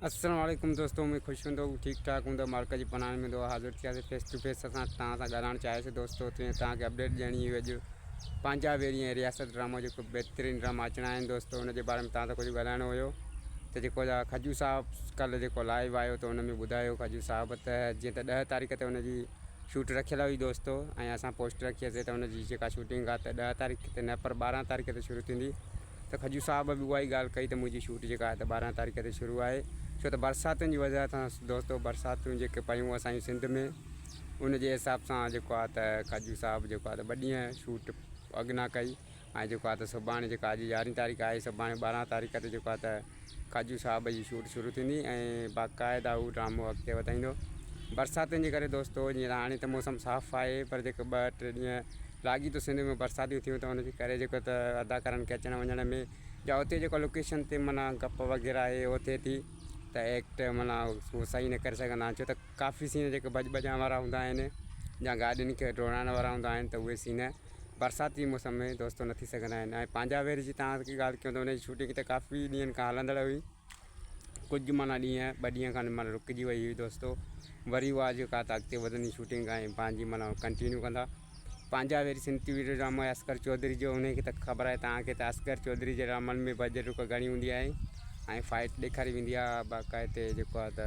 السلام عليڪم دوستو اميد خوش هوندو ٺيڪ ٺاڪ هوندو مالڪ جي پناهه ۾ هوندو حاضر ٿيا سي فيس ٽو فيس اسان تان سان ڳالهائڻ چاهي سي دوستو ته تان کي اپڊيٽ ڏيڻي هئي جو پنجا ويري ۽ رياست ڊرامو جو بهترين ڊرامو اچڻ آهن دوستو ان جي باري ۾ تان سان ڪجهه ڳالهائڻو هيو ته جيڪو جا خجو صاحب ڪل جيڪو لائيو آيو ته ان ۾ ٻڌايو خجو صاحب ته جيئن ته ڏهه تاريخ ته ان جي شوٽ رکيل هئي دوستو ۽ اسان پوسٽ رکي سي ته ان جي جيڪا شوٽنگ آهي ته ڏهه تاريخ ته نه پر ٻارهن تاريخ ته شروع ٿيندي ته کجو صاحب به اها ئي ڳالهه ڪئي ته منهنجي شوٽ جيڪا آهي ته ٻارهن تاريخ تي شروع آهي ڇو ته برساتن جي وجهه سان دوستو برساتون جيڪي پيون اسان جي سنڌ ۾ ان جي حساب سان جيڪو آهي ته کجو صاحب جيڪو آهي ته ٻه ڏينهن شوٽ اڳ نه ڪئي ۽ جيڪو آهي ته سڀاڻي جيڪا اڄ يارهين تاريخ آهي سڀاڻي ٻارهن تاريخ تي جيڪو آهي ته ڪاجو صاحب جي شوٽ شروع ٿيندي ۽ باقاعده هو ڊرامو اڳتي وڌائيندو. برساتن جي ڪري دوستو جيئن ته هاڻي ته موسم صاف آهي پر جيڪي ٻه ٽي ڏينهن لاڳيتو سنڌ ۾ برساتيون ٿيون ته ان جي ڪري جيڪو ته اداڪارن کي اچڻ وڃڻ ۾ يا اتي جيڪو لوڪيشن تي معنيٰ گپ وغيره اهي اهو ٿئي ٿي ته ايڪٽ معنيٰ هو صحيح نه ڪري سگهندا آهن ڇو ته ڪافي سين جيڪي ڀڄ ڀڄان وارا هوندا آهن يا گاڏين کي ڊوڙائڻ وارا هوندا آهن ته اهي سين برسات جي موسم ۾ دوستو نه ٿي سگهندا آهن ۽ پنهنجا وير جي توهان کي ڳالهه ڪيون ته ان جي شوٽنگ ته ڪافي ڏينهن کان هلندڙ هئي ڪجهه معنيٰ ڏينهن ٻه ڏينهن کان معنيٰ رڪجي وئي هئي دوستو وري اها جيڪا ته اڳتي وڌندي شوٽنگ ۽ پنهنجي معنيٰ ڪنٽينيو ڪندا پنهنجا وير سنڌ ويڊيو ڊرامو اصغر چوڌري جو ان کي ته خبر آهي توهان کي ته اصغر چوڌري جي ڊرامن ۾ بجٽ رڪ گهڻي هوندي آهي ۽ فائٽ ڏيکاري ويندي آهي باقاعدي جيڪو آهي ته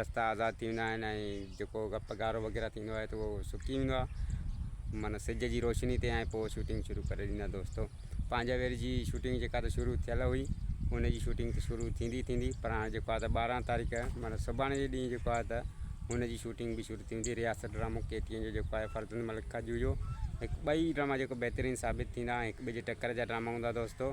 رستا آزاد ٿي ويندا آهن ۽ جيڪو گپ گارو وغيره ٿيندو آهي ته اهو سڪي ويندو آهي معنيٰ سج جي روشني تي ۽ پوء شوٽنگ شروع ڪري ڏيندا دوستو پنهنجا وير جي شوٽنگ جيڪا ته شروع ٿيل هئي ان جي شوٽنگ ته شروع ٿيندي ٿيندي پر هاڻي جيڪو آهي ته ٻارهن تاريخ معنيٰ سڀاڻي جي ڏينهن جيڪو آهي ته ان جي شوٽنگ به شروع ٿيندي رياست ڊرامو ڪي ٽي اين جو جيڪو آهي فرزند ملڪ کجو جو هڪ ٻئي ڊراما جيڪو بهترين ثابت ٿيندا هڪ ٻئي جي ٽڪر جا ڊراما هوندا دوستو